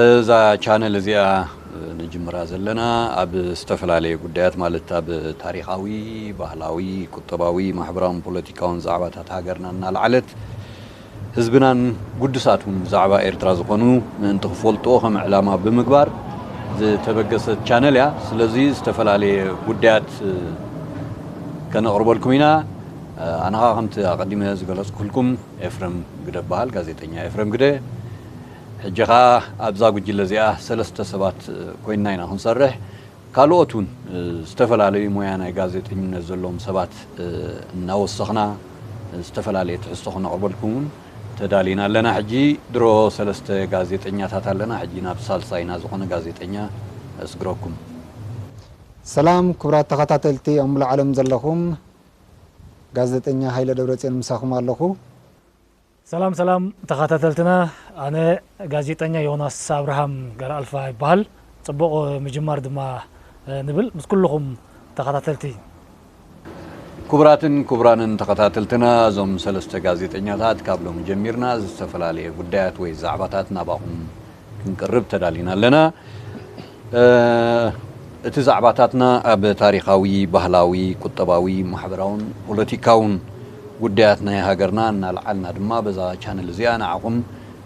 እዛ ቻነል እዚኣ ንጅምራ ዘለና ኣብ ዝተፈላለየ ጉዳያት ማለት ኣብ ታሪኻዊ፣ ባህላዊ፣ ቁጠባዊ፣ ማሕበራውን ፖለቲካውን ዛዕባታት ሃገርና እናልዓለት ህዝብናን ጉዱሳት እውን ብዛዕባ ኤርትራ ዝኾኑ ምእንቲ ክፈልጥዎ ከም ዕላማ ብምግባር ዝተበገሰት ቻነል እያ። ስለዚ ዝተፈላለየ ጉዳያት ከነቕርበልኩም ኢና። ኣነኻ ከምቲ ኣቐዲመ ዝገለጽኩልኩም ኤፍረም ግደ እበሃል፣ ጋዜጠኛ ኤፍረም ግደ። ሕጂ ከኣ ኣብዛ ጉጅለ እዚኣ ሰለስተ ሰባት ኮይንና ኢና ክንሰርሕ፣ ካልኦት እውን ዝተፈላለዩ ሞያ ናይ ጋዜጠኝነት ዘለዎም ሰባት እናወሰኽና ዝተፈላለየ ትሕዝቶ ክነቕርበልኩም እውን ተዳሊና ኣለና። ሕጂ ድሮ ሰለስተ ጋዜጠኛታት ኣለና፣ ሕጂ ናብ ሳልሳይና ዝኾነ ጋዜጠኛ እስግረኩም። ሰላም ክቡራት ተኸታተልቲ ኣብ ምሉእ ዓለም ዘለኹም፣ ጋዜጠኛ ሃይለ ደብረጽዮን ምሳኹም ኣለኹ። ሰላም ሰላም ተኻታተልትና ኣነ ጋዜጠኛ ዮናስ ኣብርሃም ገረኣልፋ ይበሃል ጽቡቕ ምጅማር ድማ ንብል ምስ ኩሉኹም ተኻታተልቲ። ኩቡራትን ኩቡራንን ተኸታተልትና እዞም ሰለስተ ጋዜጠኛታት ካብ ሎሚ ጀሚርና ዝተፈላለየ ጉዳያት ወይ ዛዕባታት ናባኹም ክንቅርብ ተዳሊና ኣለና። እቲ ዛዕባታትና ኣብ ታሪኻዊ፣ ባህላዊ፣ ቁጠባዊ፣ ማሕበራውን ፖለቲካውን ጉዳያት ናይ ሃገርና እናልዓልና ድማ በዛ ቻነል እዚኣ ንዓኹም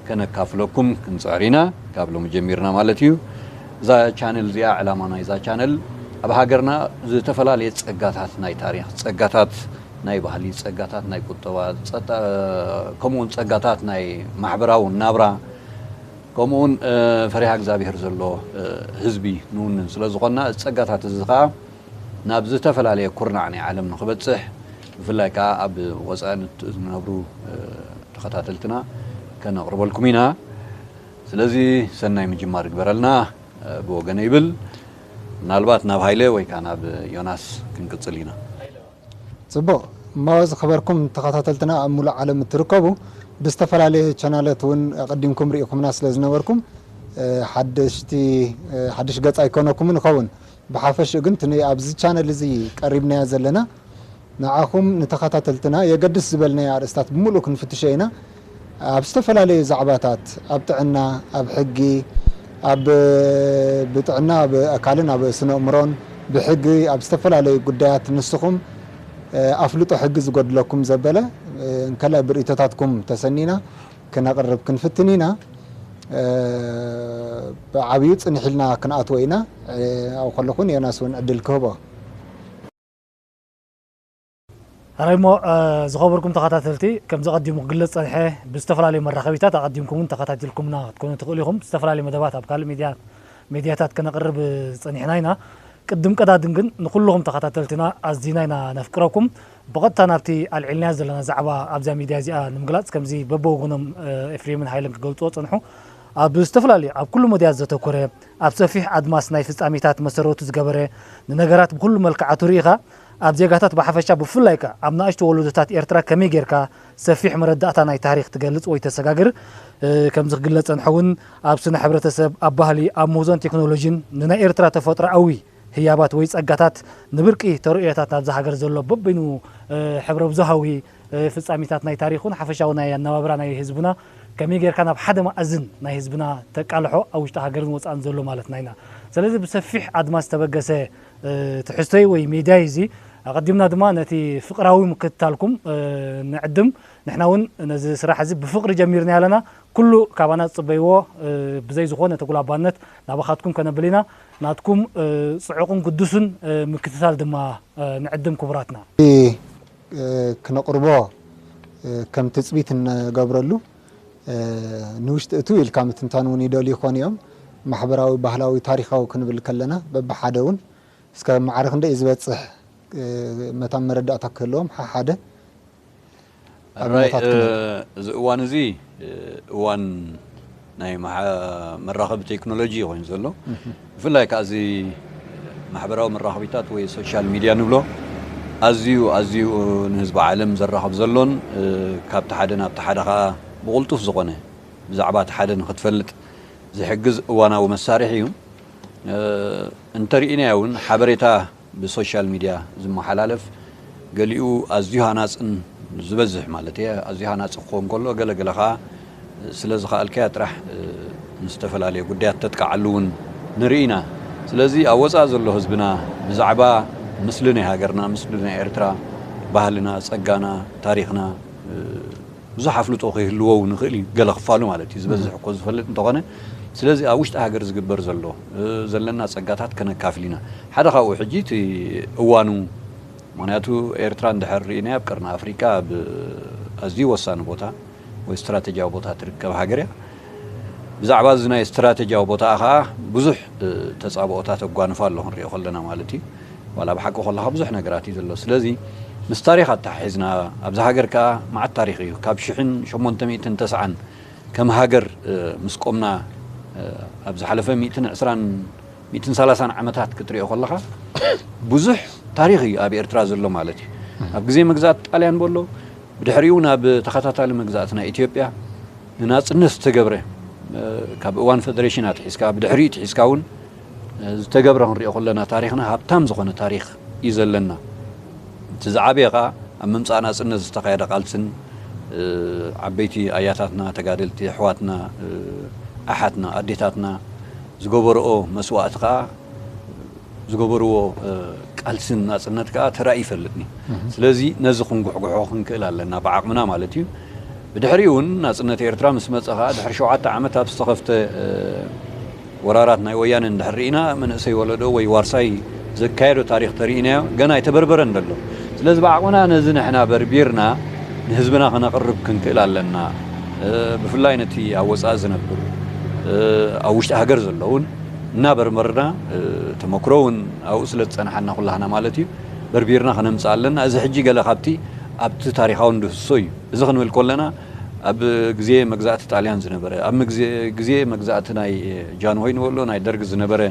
ከነካፍለኩም ክንጽዕር ኢና። ካብ ሎሚ ጀሚርና ማለት እዩ። እዛ ቻነል እዚኣ ዕላማ ናይዛ ቻነል ኣብ ሃገርና ዝተፈላለየ ጸጋታት ናይ ታሪኽ፣ ጸጋታት ናይ ባህሊ፣ ጸጋታት ናይ ቁጠባ፣ ከምኡውን ጸጋታት ናይ ማሕበራዊ ናብራ ከምኡውን ፈሪሃ እግዚኣብሄር ዘለዎ ህዝቢ ንውንን ስለ ዝኾንና እዚ ጸጋታት እዚ ከኣ ናብ ዝተፈላለየ ኩርናዕ ናይ ዓለም ንኽበጽሕ ብፍላይ ከኣ ኣብ ወጻኢ ንነብሩ ተኸታተልትና ከነቕርበልኩም ኢና። ስለዚ ሰናይ ምጅማር ይግበረልና ብወገነይ ይብል። ምናልባት ናብ ሃይለ ወይ ከኣ ናብ ዮናስ ክንቅጽል ኢና። ጽቡቅ እሞ ዝከበርኩም ተከታተልትና ኣብ ሙሉእ ዓለም እትርከቡ ብዝተፈላለየ ቸናለት ውን ኣቀዲምኩም ሪኢኩምና ስለ ዝነበርኩም ሓደሽቲ ሓድሽ ገጽ ኣይኮነኩምን ይከውን ብሓፈሽኡ ግን እቲ ኣብዚ ቻነል እዚ ቀሪብናዮ ዘለና ንዓኩም ንተከታተልትና የገድስ ዝበልናዮ ኣርእስታት ብሙሉኡ ክንፍትሾ ኢና ኣብ ዝተፈላለዩ ዛዕባታት ኣብ ጥዕና፣ ኣብ ሕጊ፣ ኣብ ብጥዕና ኣብ ኣካልን ኣብ ስነእምሮን፣ ብሕጊ ኣብ ዝተፈላለዩ ጉዳያት ንስኹም ኣፍልጦ ሕጊ ዝጎድለኩም ዘበለ እንከላይ ብርእቶታትኩም ተሰኒና ክነቕርብ ክንፍትን ኢና። ብዓብዩ ጽንሕ ኢልና ክንኣትዎ ኢና። ኣብኡ ከለኹ ንዮናስ እውን ዕድል ክህቦ። ሕራይ እሞ ዝኸበርኩም ተኸታተልቲ ከምዚ ቀዲሙ ክግለጽ ዝጸንሐ ብዝተፈላለዩ መራኸቢታት ኣቐዲምኩም ውን ተኸታቲልኩምና ክትኮኑ ትኽእሉ ኢኹም ዝተፈላለዩ መደባት ኣብ ካልእ ሚድያ ሜድያታት ከነቕርብ ጸኒሕና ኢና ቅድም ቀዳድም ግን ንኹሉኹም ተኸታተልትና ኣዚና ኢና ነፍቅረኩም ብቐጥታ ናብቲ ኣልዒልናዮ ዘለና ዛዕባ ኣብዛ ሚድያ እዚኣ ንምግላጽ ከምዚ በብወገኖም ኤፍሬምን ሃይለን ክገልጽዎ ጸንሑ ኣብ ዝተፈላለዩ ኣብ ኩሉ መድያት ዘተኮረ ኣብ ሰፊሕ ኣድማስ ናይ ፍጻሜታት መሰረቱ ዝገበረ ንነገራት ብኩሉ መልክዓቱ ርኢኻ ኣብ ዜጋታት ብሓፈሻ ብፍላይ ከኣ ኣብ ናእሽቱ ወለዶታት ኤርትራ ከመይ ጌርካ ሰፊሕ መረዳእታ ናይ ታሪኽ ትገልጽ ወይ ተሰጋግር ከምዚ ክግለጽ ጸንሐ ውን ኣብ ስነ ሕብረተሰብ ኣብ ባህሊ ኣብ ምህዞን ቴክኖሎጂን ንናይ ኤርትራ ተፈጥሮኣዊ ህያባት ወይ ጸጋታት ንብርቂ ተርእዮታት ናብዛ ሃገር ዘሎ በበይኑ ሕብረብዙሃዊ ፍጻሚታት ናይ ታሪኽ ውን ሓፈሻዊ ናይ ኣነባብራ ናይ ህዝብና ከመይ ጌርካ ናብ ሓደ መኣዝን ናይ ህዝብና ተቃልሖ ኣብ ውሽጢ ሃገርን ወጻእን ዘሎ ማለትና ኢና ሰለዚ ብሰፊሕ ኣድማስ ዝተበገሰ ትሕዝቶይ ወይ ሜድያይ እዚ ኣቐዲምና ድማ ነቲ ፍቕራዊ ምክትታልኩም ንዕድም ንሕና ውን ነዚ ስራሕ እዚ ብፍቕሪ ጀሚርናዮ ኣለና ኩሉ ካባና ዝጽበይዎ ብዘይ ዝኾነ ተጉላባነት ናባኻትኩም ከነብል ኢና ናትኩም ጽዑቕን ግዱስን ምክትታል ድማ ንዕድም ክቡራትና። እቲ ክነቕርቦ ከም ትጽቢት እንገብረሉ ንውሽጢ እትው ኢልካ ምትንታን እውን ይደልዩ ይኾኑ እዮም። ማሕበራዊ፣ ባህላዊ፣ ታሪኻዊ ክንብል ከለና በብሓደ እውን እስከ ማዕረ ክንደይ እዩ ዝበፅሕ መታን መረዳእታ ክህልዎም ሓሓደ ኣብነታት ክንህብ። እዚ እዋን እዚ እዋን ናይ መራኸቢ ቴክኖሎጂ እዩ ኮይኑ ዘሎ። ብፍላይ ከኣ እዚ ማሕበራዊ መራኸቢታት ወይ ሶሻል ሚድያ ንብሎ ኣዝዩ ኣዝዩ ንህዝቢ ዓለም ዘራኽብ ዘሎን ካብቲ ሓደ ናብቲ ሓደ ከኣ ብቕልጡፍ ዝኾነ ብዛዕባ እቲ ሓደ ንኽትፈልጥ ዝሕግዝ እዋናዊ መሳርሒ እዩ። እንተርኢናዮ እውን ሓበሬታ ብሶሻል ሚድያ ዝመሓላለፍ ገሊኡ ኣዝዩ ሃናጽን ዝበዝሕ ማለት እየ ኣዝዩ ሃናጺ ክኸውን ከሎ ገለ ገለ ከኣ ስለ ዝኸኣልካያ ጥራሕ ንዝተፈላለየ ጉዳያት ተጥቅዓሉ እውን ንርኢ ኢና ስለዚ ኣብ ወጻኢ ዘሎ ህዝብና ብዛዕባ ምስሊ ናይ ሃገርና ምስሊ ናይ ኤርትራ ባህልና ጸጋና ታሪኽና ብዙሕ ኣፍልጦ ከይህልዎ ውን ይኽእል እዩ ገለ ክፋሉ ማለት እዩ ዝበዝሕ እኮ ዝፈልጥ እንተኾነ ስለዚ ኣብ ውሽጢ ሃገር ዝግበር ዘሎ ዘለና ጸጋታት ከነካፍል ኢና ሓደ ካብኡ ሕጂ እቲ እዋኑ ምክንያቱ ኤርትራ እንድሕር ርኢናያ ኣብ ቀርኒ ኣፍሪቃ ኣብ ኣዝዩ ወሳኒ ቦታ ወይ ስትራተጂያዊ ቦታ ትርከብ ሃገር እያ ብዛዕባ እዚ ናይ ስትራተጂያዊ ቦታኣ ከኣ ብዙሕ ተጻብኦታት ኣጓንፋ ኣሎ ክንሪኦ ከለና ማለት እዩ ዋላ ኣብ ሓቂ ኮለኻ ብዙሕ ነገራት እዩ ዘሎ ስለዚ ምስ ታሪኽ ኣተሓሒዝና ኣብዛ ሃገር ከኣ መዓት ታሪኽ እዩ ካብ ሽሕን ሸሞንተ ሚእትን ተስዓን ከም ሃገር ምስ ቆምና ኣብ ዝሓለፈ ሚእትን ዕስራን ሚእትን ሰላሳን ዓመታት ክትሪኦ ከለኻ ብዙሕ ታሪኽ እዩ ኣብ ኤርትራ ዘሎ ማለት እዩ ኣብ ግዜ መግዛእቲ ጣልያን በሎ ብድሕሪኡ ናብ ተኸታታሊ መግዛእቲ ናይ ኢትዮጵያ ንናጽነት ዝተገብረ ካብ እዋን ፈደረሽን ኣትሒዝካ ብድሕሪኡ ትሒዝካ እውን ዝተገብረ ክንሪኦ ከለና ታሪኽና ሃብታም ዝኾነ ታሪኽ እዩ ዘለና እቲ ዝዓበየ ከዓ ኣብ ምምፃእ ናፅነት ዝተኻየደ ቃልስን ዓበይቲ ኣያታትና ተጋደልቲ ኣሕዋትና ኣሓትና ኣዴታትና ዝገበረኦ መስዋእቲ ከዓ ዝገበርዎ ቃልሲ ንናጽነት ከኣ ተራእዩ ይፈልጥ እዩ። ስለዚ ነዚ ክንጉሕጉሖ ክንክእል ኣለና፣ ብዓቕምና ማለት እዩ። ብድሕሪኡ'ውን ናጽነት ኤርትራ ምስ መጸ ከኣ ድሕሪ ሸውዓተ ዓመት ኣብ ዝተኸፍተ ወራራት ናይ ወያነ እንድሕር ርኢና መንእሰይ ወለዶ ወይ ዋርሳይ ዘካየዶ ታሪኽ ተርኢናዮ ገና ኣይተበርበረን ዘሎ። ስለዚ ብዓቕምና ነዚ ንሕና በርቢርና ንህዝብና ከነቕርብ ክንክእል ኣለና። ብፍላይ ነቲ ኣብ ወጻኢ ዝነብር ኣብ ውሽጢ ሃገር ዘለዉን። እናበርበርና ተመክሮ እውን ኣብኡ ስለ ዝፀናሓና ኩላህና ማለት እዩ በርቢርና ክነምፅእ ኣለና እዚ ሕጂ ገለ ካብቲ ኣብቲ ታሪኻዊ ንድህስሶ እዩ እዚ ክንብል ኮለና ኣብ ግዜ መግዛእቲ ጣልያን ዝነበረ ኣብ ግዜ መግዛእቲ ናይ ጃንሆይ ንበሎ ናይ ደርግ ዝነበረ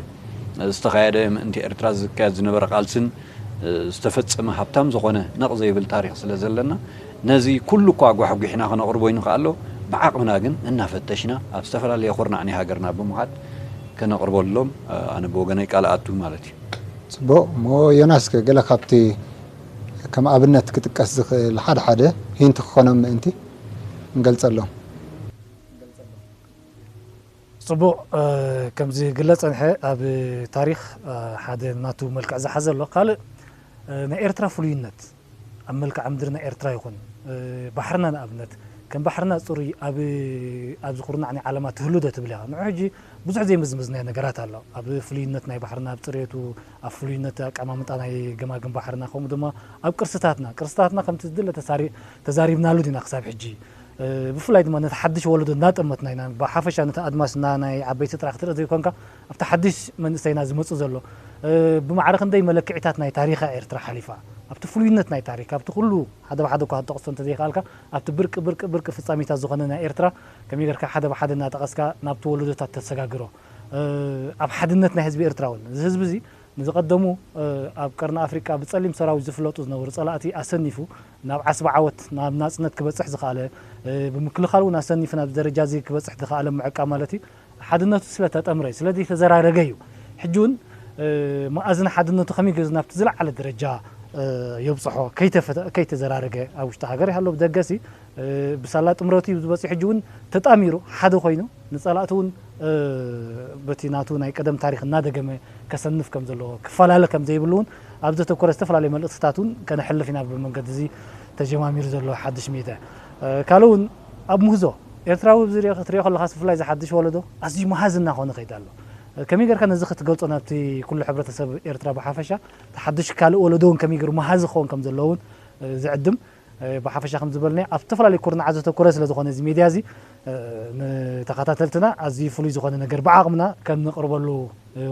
ዝተኻየደ ምእንቲ ኤርትራ ዝካየድ ዝነበረ ቃልስን ዝተፈጸመ ሃብታም ዝኾነ ነቕ ዘይብል ታሪኽ ስለ ዘለና ነዚ ኩሉ እኳ ኣጓሕጒሕና ክነቕርቦ ይንክኣሎ ብዓቕምና ግን እናፈተሽና ኣብ ዝተፈላለየ ኩርናዕ ናይ ሃገርና ብምኻድ ከነቕርበሎም ኣነ ብወገነይ ቃል እኣቱ ማለት እዩ። ጽቡቕ እሞ ዮናስከ ገለ ካብቲ ከም ኣብነት ክጥቀስ ዝኽእል ሓደ ሓደ ሂንት ክኾኖም ምእንቲ ንገልጸሎም። ጽቡቕ ከም ዝግለጽ ጸንሐ ኣብ ታሪኽ ሓደ ናቱ መልክዕ ዝሓዘ ኣሎ። ካልእ ናይ ኤርትራ ፍሉይነት ኣብ መልክዓ ምድሪ ናይ ኤርትራ ይኹን ባሕርና ንኣብነት ከም ባሕርና ጽሩይ ኣብ ኣብዚ ኩርናዕ ናይ ዓለማ ትህሉዶ ትብል ኢኻ። ንዑ ሕጂ ብዙሕ ዘይምዝመዝናዮ ነገራት ኣሎ። ኣብ ፍሉይነት ናይ ባሕርና ኣብ ጽሬቱ ኣብ ፍሉይነት ኣቀማምጣ ናይ ገማግም ባሕርና ከምኡ ድማ ኣብ ቅርስታትና ቅርስታትና ከምቲ ዝድለ ተዛሪብናሉ ዲና ክሳብ ሕጂ ብፍላይ ድማ ነቲ ሓድሽ ወለዶ እናጠመትና ኢና፣ ብሓፈሻ ነቲ ኣድማስና ናይ ዓበይቲ ጥራሕ ክትርኢ ዘይኮንካ ኣብቲ ሓድሽ መንእሰይና ዝመጽእ ዘሎ ብማዕረ ክንደይ መለክዒታት ናይ ታሪኻ ኤርትራ ሓሊፋ ኣብቲ ፍሉይነት ናይ ታሪኽ ካብቲ ኩሉ ሓደ ብሓደ እኳ ክትጠቕሶ እንተዘይከኣልካ ኣብቲ ብርቂ ብርቂ ብርቂ ፍጻሜታት ዝኾነ ናይ ኤርትራ ከመይ ጌርካ ሓደ ብሓደ እናጠቐስካ ናብቲ ወለዶታት ተሰጋግሮ ኣብ ሓድነት ናይ ህዝቢ ኤርትራ ውን እዚ ህዝቢ እዚ ንዝቐደሙ ኣብ ቀርኒ ኣፍሪቃ ብጸሊም ሰራዊት ዝፍለጡ ዝነበሩ ጸላእቲ ኣሰኒፉ ናብ ዓስቢ ዓወት፣ ናብ ናጽነት ክበጽሕ ዝኸኣለ፣ ብምክልኻል እውን ኣሰኒፉ ናብዚ ደረጃዚ ክበጽሕ ዝኸኣለ ምዕቃብ ማለት እዩ። ሓድነቱ ስለ ተጠምረ እዩ፣ ስለ ዘይተዘራረገ እዩ። ሕጂ እውን መኣዝን ሓድነቱ ከመይ ገይሩ ናብቲ ዝለዓለ ደረጃ የብጽሖ ከይተዘራረገ ኣብ ውሽጢ ሃገር ይሃሎ ብደገ ሲ፣ ብሳላ ጥምረቱ እዩ እዚ በጺሑ ሕጂ ውን ተጣሚሩ ሓደ ኮይኑ ንጸላእቱ ውን በቲ ናቱ ናይ ቀደም ታሪኽ እናደገመ ከሰንፍ ከም ዘለዎ ክፈላለ ከም ዘይብሉ ውን ኣብ ዘተኮረ ዝተፈላለዩ መልእኽትታት ውን ከነሕልፍ ኢና ብመንገዲ እዚ ተጀማሚሩ ዘሎ ሓድሽ ሜድያ ካልእ ውን ኣብ ምህዞ ኤርትራዊ ኣብዚ ክትሪኦ ከለኻስ ብፍላይ እዚ ሓድሽ ወለዶ ኣዝዩ መሃዚ እናኾነ ከይዱ ኣሎ ከመይ ጌርካ ነዚ ክትገልጾ ናብቲ ኩሉ ሕብረተሰብ ኤርትራ ብሓፈሻ እቲ ሓድሽ ካልእ ወለዶ ውን ከመይ ጌሩ መሃዚ ክኸውን ከም ዘለዎ ውን ዝዕድም ብሓፈሻ ከምዚ ዝበልናዮ ኣብ ዝተፈላለዩ ኩርናዓት ዘተኮረ ስለ ዝኾነ እዚ ሜድያ እዚ ንተኸታተልትና ኣዝዩ ፍሉይ ዝኾነ ነገር ብዓቕምና ከም ነቕርበሉ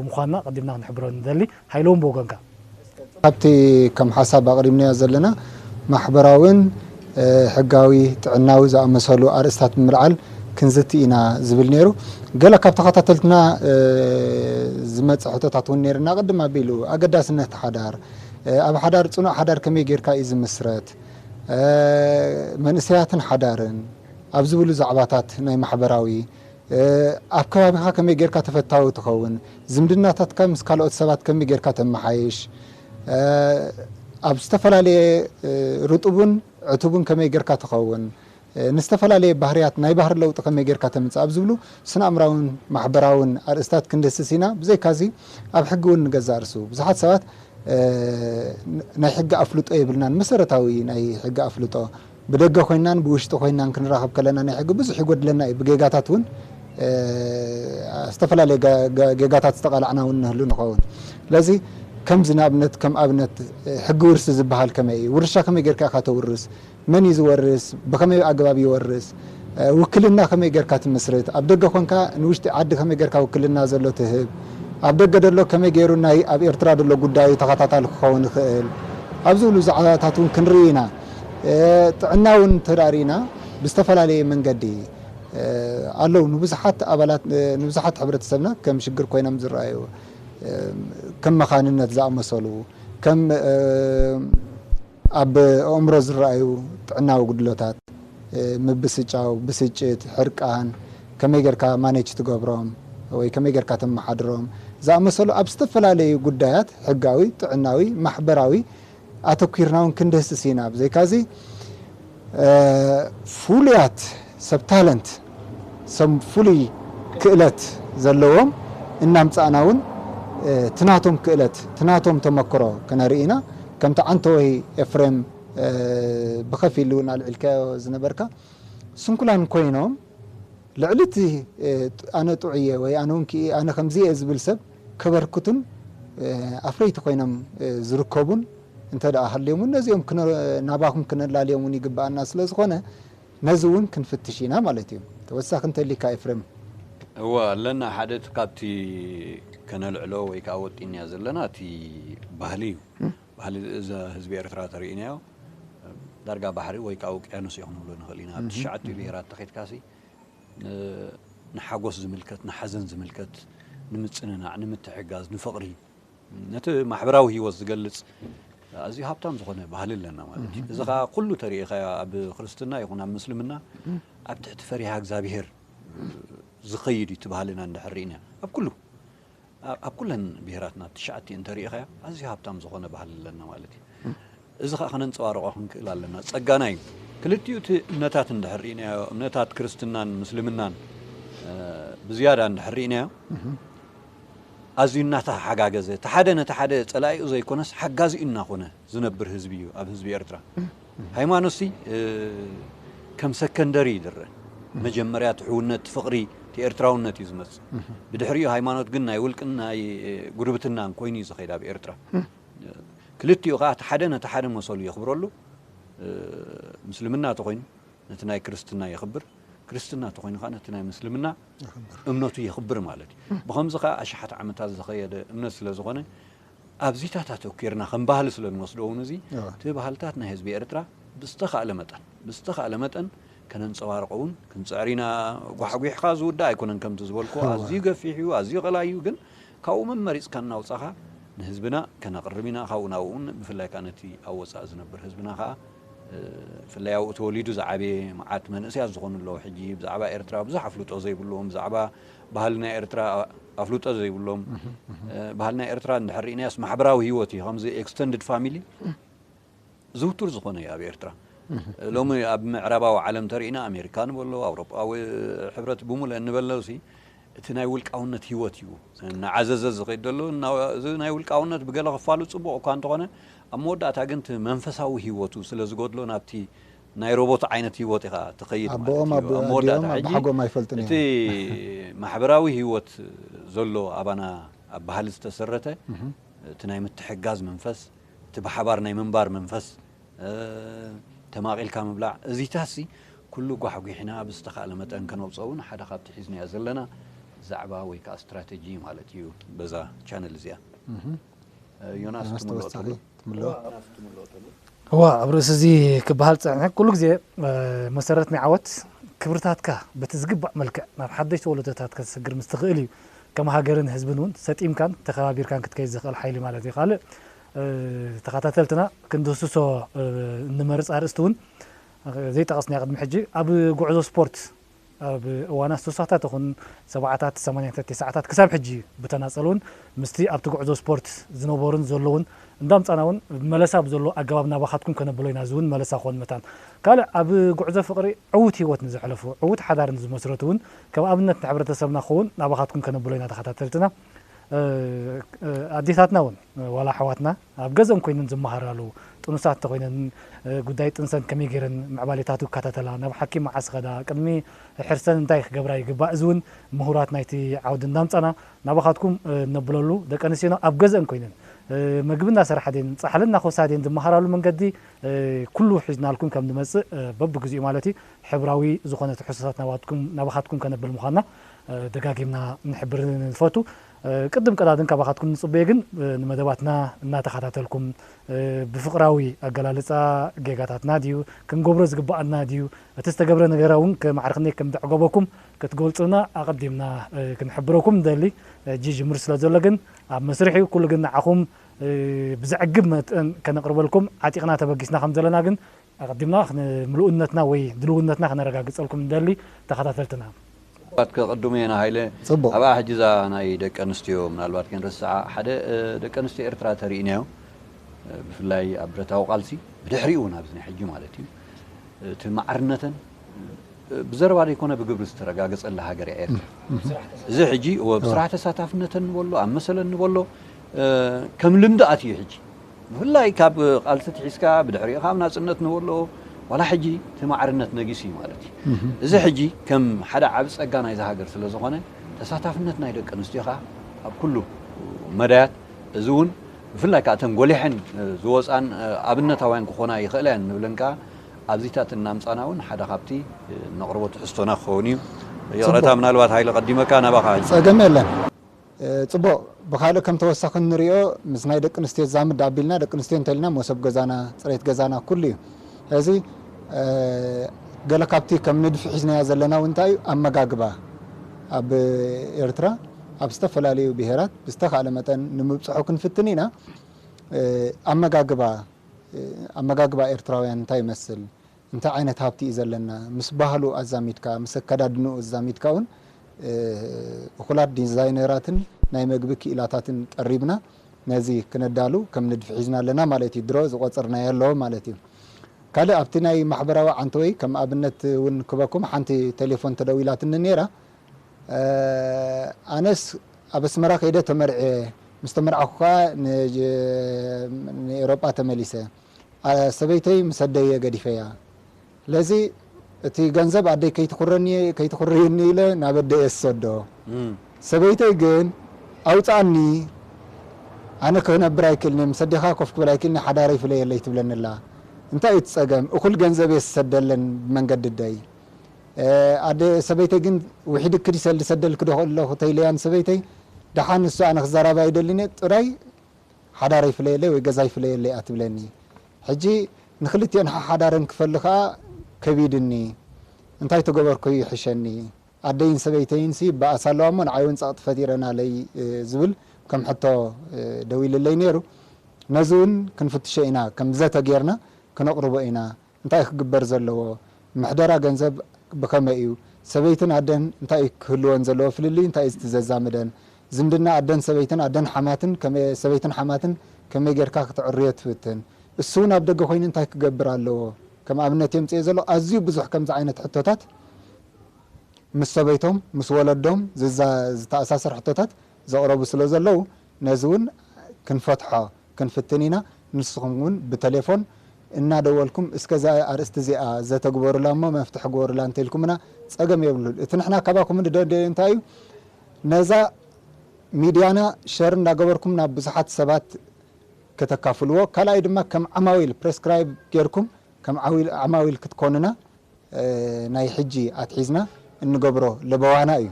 ምዃንና ኣቐዲምና ክንሕብሮ ንደሊ። ሃይለውን ብወገንካ። ኣብቲ ከም ሓሳብ ኣቕሪብናዮ ዘለና ማሕበራዊን ሕጋዊ ጥዕናዊ ዝኣመሰሉ ኣርእስታት ብምልዓል ክንዝቲ ኢና ዝብል ነይሩ። ገለ ካብ ተኸታተልትና ዝመጸ ሕቶታት እውን ነይርና ቅድም ኣቢሉ ኣገዳስነት ሓዳር፣ ኣብ ሓዳር ፅኑዕ ሓዳር ከመይ ጌርካ እዩ ዝምስረት? መንእሰያትን ሓዳርን ኣብ ዝብሉ ዛዕባታት ናይ ማሕበራዊ ኣብ ከባቢኻ ከመይ ጌርካ ተፈታዊ ትኸውን? ዝምድናታትካ ምስ ካልኦት ሰባት ከመይ ጌርካ ተመሓይሽ? ኣብ ዝተፈላለየ ርጡብን ዕቱብን ከመይ ጌርካ ትኸውን? ንዝተፈላለየ ባህርያት ናይ ባህሪ ለውጢ ከመይ ጌርካ ተምጽእ ኣብ ዝብሉ ስነኣእምራውን ማሕበራውን ኣርእስታት ክንድህስስ ኢና። ብዘይካዚ ኣብ ሕጊ እውን ንገዛእ ርእሱ ብዙሓት ሰባት ናይ ሕጊ ኣፍልጦ የብልናን መሰረታዊ ናይ ሕጊ ኣፍልጦ ብደገ ኮይናን ብውሽጢ ኮይናን ክንራኸብ ከለና ናይ ሕጊ ብዙሕ ይጎድለና እዩ ብጌጋታት እውን ዝተፈላለየ ጌጋታት ዝተቓላዕና እውን ንህሉ ንኸውን ስለዚ ከምዚ ንኣብነት ከም ኣብነት ሕጊ ውርሲ ዝበሃል ከመይ እዩ ውርሻ ከመይ ጌርካ ኢኻ ተውርስ መን እዩ ዝወርስ? ብኸመይ ኣገባብ ይወርስ? ውክልና ከመይ ጌርካ ትምስርት? ኣብ ደገ ኮንካ ንውሽጢ ዓዲ ከመይ ጌርካ ውክልና ዘሎ ትህብ? ኣብ ደገ ደሎ ከመይ ጌሩ ናይ ኣብ ኤርትራ ደሎ ጉዳዩ ተኸታታሊ ክኸውን ይኽእል? ኣብ ዝብሉ ዛዕባታት እውን ክንርኢ ኢና። ጥዕና እውን እንተ ርኢና ብዝተፈላለየ መንገዲ ኣለዉ ንብዙሓት ኣባላት ንብዙሓት ሕብረተሰብና ከም ሽግር ኮይኖም ዝረኣዩ ከም መኻንነት ዝኣመሰሉ ከም ኣብ ኣእምሮ ዝረኣዩ ጥዕናዊ ጉድለታት፣ ምብስጫው፣ ብስጭት፣ ሕርቃን፣ ከመይ ጌርካ ማኔች ትገብሮም ወይ ከመይ ጌርካ ተመሓድሮም ዝኣመሰሉ ኣብ ዝተፈላለዩ ጉዳያት ሕጋዊ፣ ጥዕናዊ፣ ማሕበራዊ ኣተኲርና'ውን ክንድህስስ ኢና። ብዘይካ'ዚ። ፍሉያት ሰብ ታለንት ሰብ ፍሉይ ክእለት ዘለዎም እናምፃእና እውን እቲ ናቶም ክእለት እቲ ናቶም ተመክሮ ክነርኢ ኢና። ከምቲ ዓንተወይ ኤፍሬም ብኸፊል እውን ኣልዒልካዮ ዝነበርካ ስንኩላን ኮይኖም ልዕሊ እቲ ኣነ ጥዑይ እየ ወይ ኣነ ከምዚ እየ ዝብል ሰብ ከበርክቱን ኣፍረይቲ ኮይኖም ዝርከቡን እንተድኣ ሃልዮም እውን ነዚኦም ናባኹም ክነላልዮም እውን ይግብኣና ስለዝኾነ ነዚ እውን ክንፍትሽ ኢና ማለት እዩ። ተወሳኺ እንተሊካ ኤፍሬም? እወ ኣለና ሓደ እቲ ካብቲ ከነልዕሎ ወይ ከኣ ወጢንያ ዘለና እቲ ባህሊ እዩ ባህሊ እዛ ህዝቢ ኤርትራ ተሪኢናዮ ዳርጋ ባሕሪ ወይ ከኣ ውቅያኖስ እዩ ክንብሎ ንኽእል ኢና ኣብ ትሽዓቲኡ ብሄራት ተኺድካሲ ንሓጎስ ዝምልከት፣ ንሓዘን ዝምልከት፣ ንምጽንናዕ፣ ንምትሕግጋዝ፣ ንፍቕሪ፣ ነቲ ማሕበራዊ ህይወት ዝገልጽ ኣዝዩ ሃብታም ዝኾነ ባህሊ ኣለና ማለት እዩ። እዚ ከኣ ኩሉ ተሪኢኻዮ ኣብ ክርስትና ይኹን ኣብ ምስልምና ኣብ ትሕቲ ፈሪሃ እግዚኣብሄር ዝኸይድ እዩ እቲ ባህልና እንድሕር ርኢና ኣብ ኩሉ ኣብ ኩለን ብሄራትና ትሽዓቲኤን እንተሪኢኻዮ ኣዝዩ ሃብታም ዝኾነ ባህሊ ኣለና ማለት እዩ። እዚ ኸኣ ከነንጸባርቖ ክንክእል ኣለና። ጸጋና እዩ። ክልቲኡ እቲ እምነታት እንድሕር ርኢናዮ፣ እምነታት ክርስትናን ምስልምናን ብዝያዳ እንድሕር ርኢናዮ፣ ኣዝዩ እናተሓጋገዘ፣ እቲ ሓደ ነቲ ሓደ ጸላኢኡ ዘይኮነስ ሓጋዚኡ እናኾነ፣ ዝነብር ህዝቢ እዩ ኣብ ህዝቢ ኤርትራ ሃይማኖት ሲ ከም ሰከንደሪ ይድረ መጀመርያ እቲ ሕውነት እቲ ፍቕሪ እቲ ኤርትራውነት እዩ ዝመጽእ ብድሕሪኡ ሃይማኖት ግን ናይ ውልቅን ናይ ጉርብትናን ኮይኑ እዩ ዝኸይድ ኣብ ኤርትራ ክልቲኡ ከዓ እቲ ሓደ ነቲ ሓደ መሰሉ የኽብረሉ ምስልምና ተኾይኑ ነቲ ናይ ክርስትና የኽብር ክርስትና ተኾይኑ ከዓ ነቲ ናይ ምስልምና እምነቱ የኽብር ማለት እዩ ብኸምዚ ከዓ ኣሽሓት ዓመታት ዝኸየደ እምነት ስለ ዝኾነ ኣብዚታት ኣተኲርና ከም ባህሊ ስለ እንወስዶ እውን እዚ እቲ ባህልታት ናይ ህዝቢ ኤርትራ ብዝተኻእለ መጠን ብዝተኻእለ መጠን ከነንጸባርቖ እውን ክንጽዕር ኢና። ጓሕጒሕካ ዝውዳእ ኣይኮነን ከምቲ ዝበልኩዎ ኣዝዩ ገፊሕ እዩ ኣዝዩ ቀላይ እዩ ግን ካብኡ መመሪጽካ እናውጻኻ ንህዝብና ከነቕርብ ኢና ካብኡ ናብኡ እውን ብፍላይ ከኣ ነቲ ኣብ ወጻኢ ዝነብር ህዝብና ከኣ ብፍላይ ኣብኡ ተወሊዱ ዝዓበየ መዓት መንእሰያት ዝኾኑ ኣለዉ ሕጂ ብዛዕባ ኤርትራ ብዙሕ ኣፍልጦ ዘይብሉዎም ብዛዕባ ባህሊ ናይ ኤርትራ ኣፍልጦ ዘይብሎም ባህሊ ናይ ኤርትራ እንድሕር ርኢናዮስ ማሕበራዊ ህይወት እዩ ከምዚ ኤክስተንድድ ፋሚሊ ዝውቱር ዝኾነ እዩ ኣብ ኤርትራ ሎሚ ኣብ ምዕራባዊ ዓለም ተርእና ኣሜሪካ ንበሎ ኣውሮጳዊ ሕብረት ብሙለ እንበለሲ እቲ ናይ ውልቃውነት ህይወት እዩ እናዓዘዘ ዝኸይድ ዘሎ እዚ ናይ ውልቃውነት ብገለ ክፋሉ ፅቡቕ እኳ እንተኾነ ኣብ መወዳእታ ግን እቲ መንፈሳዊ ህይወቱ ስለ ዝጎድሎ ናብቲ ናይ ሮቦት ዓይነት ህይወት ኢኻ ትኸይድ ማለት ኣቦኦም እዩ። ኣብ መወዳእታ ኣዲኦም ሕጂ ኣቦሓጎም ኣይፈልጡን እቲ እዮም። ማሕበራዊ ህይወት ዘሎ ኣባና ኣብ ባህሊ ዝተሰረተ እቲ ናይ ምትሕግጋዝ መንፈስ፣ እቲ ብሓባር ናይ ምንባር መንፈስ፣ ተማቒልካ ምብላዕ እዚታትሲ ኩሉ ጓሕጒሕና ብዝተኻእለ መጠን ከነውጽኦ እውን ሓደ ካብቲ ሒዝናዮ ዘለና ዛዕባ ወይ ከኣ ስትራተጂ እዩ ማለት እዩ በዛ ቻነል እዚኣ። ዮናስ ትምልኦ ተሎ እዋ ኣብ ርእሲ እዚ ክበሃል ዝጸንሐ ኩሉ ግዜ መሰረት ናይ ዓወት ክብርታትካ በቲ ዝግባእ መልክዕ ናብ ሓደሽቲ ወለዶታት ከተስግር ምስ ትኽእል እዩ ከም ሃገርን ህዝብን እውን ሰጢምካን ተኸባቢርካን ክትከይድ ዝኽእል ሓይሊ ማለት እዩ ካልእ ተኸታተልትና ክንድህስሶ እንመርጽ ኣርእስቲ እውን ዘይጠቐስናዮ ቅድሚ ሕጂ ኣብ ጉዕዞ ስፖርት ኣብ እዋናት ስሳታት ይኹን ሰብዓታት፣ ሰማንያታት፣ ቴስዓታት ክሳብ ሕጂ ብተናጸል'ውን ምስቲ ኣብቲ ጉዕዞ ስፖርት ዝነበሩን ዘለዉን እንዳምጻእና'ውን መለሳ ብዘለዎ ኣገባብ ናባኻትኩም ከነብሎ ኢና፣ እዚ'ውን መለሳ ክኾን መታን ካልእ ኣብ ጉዕዞ ፍቕሪ ዕዉት ህይወት ንዘሕለፉ ዕዉት ሓዳር ንዝመስረቱ'ውን ከም ኣብነት ንሕብረተሰብና ክኸውን ናባኻትኩም ከነብሎ ኢና ተኸታተልትና ኣዴታትና'ውን ዋላ ኣሕዋትና ኣብ ገዝኦም ኮይነን ዝመሃራሉ ጥኑሳት እንተኾይነን ጉዳይ ጥንሰን ከመይ ገይረን ምዕባሌታቱ ክከታተላ፣ ናብ ሓኪም መዓስ ይኸዳ፣ ቅድሚ ሕርሰን እንታይ ክገብራ ይግባእ እዚ እውን ምሁራት ናይቲ ዓውዲ እንዳምፃና ናባኻትኩም እነብለሉ ደቂ ኣንስትዮና ኣብ ገዝአን ኮይነን መግቢ እናሰርሓ ድየን ፃሕሊ እናኾሳ ድየን ዝመሃራሉ መንገዲ ኩሉ ሒዝናልኩም ከም ንመፅእ በብግዚኡ ማለት እዩ ሕብራዊ ዝኾነ ትሕዝቶታት ናባኻትኩም ከነብል ምዃንና ደጋጊምና ንሕብር ንፈቱ። ቅድም ቀዳድም ካባኻትኩም ንጽበዮ ግን ንመደባትና እናተኻታተልኩም ብፍቕራዊ ኣገላልጻ ጌጋታትና ድዩ ክንገብሮ ዝግብኣና ድዩ እቲ ዝተገብረ ነገራ ውን ከማዕርክኔ ከምደዕጎበኩም ክትገልጹልና ኣቐዲምና ክንሕብረኩም ንደሊ ሕጂ ጅምሩ ስለ ዘሎ ግን ኣብ መስርሕ ዩ ኩሉ ግን ንዓኹም ብዘዕግብ መጠን ከነቕርበልኩም ዓጢቕና ተበጊስና ከም ዘለና ግን ኣቐዲምና ምሉእነትና ወይ ድልውነትና ከነረጋግጸልኩም ንደሊ ተኸታተልትና። ምናልባት ከቅድሙ የና ሃይለ ጽቡቅ። ኣብኣ ሕጂ እዛ ናይ ደቂ ኣንስትዮ ምናልባት ከይንርስዓ ሓደ ደቂ ኣንስትዮ ኤርትራ ተሪኢናዮ ብፍላይ ኣብ ብረታዊ ቃልሲ ብድሕሪኡ ውን ኣብዚ ናይ ሕጂ ማለት እዩ እቲ ማዕርነተን ብዘረባ ዘይኮነ ብግብሪ ዝተረጋገጸላ ሃገር እያ ኤርትራ እዚ ሕጂ እወ ብስራሕ ተሳታፍነተን ንበሎ ኣብ መሰለን ንበሎ ከም ልምዲ ኣትዩ ሕጂ ብፍላይ ካብ ቃልሲ ኣትሒዝካ ብድሕሪኡ ካብ ናጽነት ንወሎ ዋላ ሕጂ እቲ ማዕርነት ነጊሱ እዩ ማለት እዩ። እዚ ሕጂ ከም ሓደ ዓቢ ጸጋ ናይዛ ሃገር ስለ ዝኾነ ተሳታፍነት ናይ ደቂ ኣንስትዮ ከኣ ኣብ ኩሉ መዳያት እዚ እውን ብፍላይ ከኣ እተን ጎሊሐን ዝወጻን ኣብነታውያን ክኾና ይኽእላ እየን ንብለን ከኣ ኣብዚታት እናምጻና እውን ሓደ ካብቲ እነቕርቦ ትሕዝቶና ክኸውን እዩ። ይቕረታ ምናልባት ሃይለ ቀዲመካ ናባኻ ሕጂ። ጸገም የለን። ጽቡቕ ብኻልእ ከም ተወሳኺ እንሪኦ ምስ ናይ ደቂ ኣንስትዮ ዝዛምድ ኣቢልና ደቂ ኣንስትዮ እንተልና ሞሶብ ገዛና ጽሬት ገዛና ኩሉ እዩ ሕዚ ገለ ካብቲ ከም ንድፊ ሒዝናዮ ዘለና እውን እንታይ እዩ ኣመጋግባ ኣብ ኤርትራ ኣብ ዝተፈላለዩ ብሄራት ብዝተኻእለ መጠን ንምብጽሖ ክንፍትን ኢና ኣመጋግባ ኣመጋግባ ኤርትራውያን እንታይ ይመስል እንታይ ዓይነት ሃብቲ እዩ ዘለና ምስ ባህሉ ኣዛሚድካ ምስ ኣከዳድንኡ ኣዛሚድካ ውን እኹላት ዲዛይነራትን ናይ መግቢ ክኢላታትን ቀሪብና ነዚ ክነዳሉ ከም ንድፊ ሒዝና ኣለና ማለት እዩ ድሮ ዝቆጽርናዮ ኣሎ ማለት እዩ ካልእ ኣብቲ ናይ ማሕበራዊ ዓንተወይ ከም ኣብነት ውን ክበኩም ሓንቲ ቴሌፎን ተደዊላትኒ ኔራ ኣነስ ኣብ ኣስመራ ከይደ ተመርዕየ ምስ ተመርዓኩ ከኣ ንኤሮጳ ተመሊሰ ሰበይተይ ምስ ኣደየ ገዲፈያ ስለዚ እቲ ገንዘብ ኣደይ ከይትኹርየኒ ኢለ ናብ ኣደየ ዝሰዶ ሰበይተይ ግን ኣውፅኣኒ ኣነ ክነብር ኣይክእልንየ ምስ ኣዴኻ ኮፍ ክብል ኣይክእልንየ ሓዳረይ ፍለየለይ ትብለኒ ኣላ እንታይ እዩ እቲ ፀገም እኹል ገንዘብ እየ ዝሰደለን ብመንገዲ ኣደይ ኣደ ሰበይተይ ግን ውሒድኪ ድሰ ልሰደልኪ ዶ ኣለኹ ተይለያ ንሰበይተይ ደሓን እሱ ኣነ ክዘራባ ኣይደልንየ ጥራይ ሓዳር ይፍለየለይ ወይ ገዛ ይፍለየለይ እያ ትብለኒ ሕጂ ንክልቲኤን ሓሓዳረን ክፈሊ ከኣ ከቢድኒ እንታይ ተገበርኩ ይሕሸኒ ኣደይን ሰበይተይንሲ ይበኣሳ ኣለዋ እሞ ንዓይውን ጸቕጢ ፈጢረናለይ ዝብል ከም ሕቶ ደዊልለይ ኔሩ ነዚውን ክንፍትሾ ኢና ከም ዘተ ጌርና ክነቕርቦ ኢና እንታይ ክግበር ዘለዎ? ምሕደራ ገንዘብ ብኸመይ እዩ? ሰበይትን ኣደን እንታይ እዩ ክህልወን ዘለዎ? ፍልልይ እንታይ እዩ እቲ ዘዛምደን? ዝምድና ኣደን ሰበይትን፣ ኣደን ሓማትን፣ ከመይ ሰበይትን ሓማትን ከመይ ጌርካ ክተዕርዮ ትፍትን? እሱውን ኣብ ደገ ኮይኑ እንታይ ክገብር ኣለዎ? ከም ኣብነት የምጽኤ ዘለኹ ኣዝዩ ብዙሕ ከምዚ ዓይነት ሕቶታት ምስ ሰበይቶም ምስ ወለዶም ዝተኣሳሰር ሕቶታት ዘቕረቡ ስለዘለዉ ነዚውን ክንፈትሖ ክንፍትን ኢና ንስኹም ውን ብተሌፎን እናደወልኩም እስከ እዛ ኣርእስቲ እዚኣ ዘተ ግበሩላ እሞ መፍትሒ ግበሩላ እንተኢልኩምና ጸገም የብሉን እቲ ንሕና ካባኩም ንደልዮ እንታይ እዩ ነዛ ሚድያና ሸር እንዳገበርኩም ናብ ብዙሓት ሰባት ከተካፍልዎ ካልኣይ ድማ ከም ዓማዊል ፕረስክራይብ ጌርኩም ከም ዓማዊል ክትኮኑና ናይ ሕጂ ኣትሒዝና እንገብሮ ለበዋና እዩ።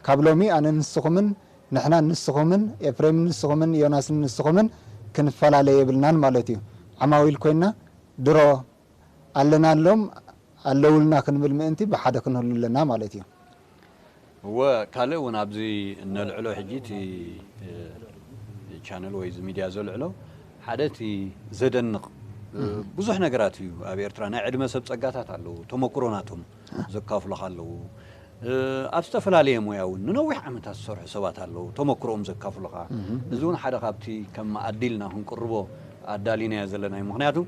ካብ ሎሚ ኣነ ንስኹምን ንሕናን ንስኹምን ኤፍሬምን ንስኹምን ዮናስን ንስኹምን ክንፈላለ የብልናን ማለት እዩ። ዓማዊል ኮይና ድሮ ኣለናሎም ኣለውልና ክንብል ምእንቲ ብሓደ ክንህሉ ኣለና ማለት እዩ። እወ ካልእ ውን ኣብዚ እነልዕሎ ሕጂ እቲ ቻነል ወይ እዚ ሚድያ ዘልዕሎ ሓደ እቲ ዘደንቕ ብዙሕ ነገራት እዩ ኣብ ኤርትራ ናይ ዕድመ ሰብ ጸጋታት ኣለዉ ተመኩሮ ናቶም ዘካፍሉኻ ኣለዉ ኣብ ዝተፈላለየ ሞያ እውን ንነዊሕ ዓመታት ዝሰርሑ ሰባት ኣለዉ ተመክሮኦም ዘካፍሉኻ እዚ እውን ሓደ ካብቲ ከም መኣዲ ኢልና ክንቅርቦ ኣዳሊናዮ ዘለና እዩ ምክንያቱ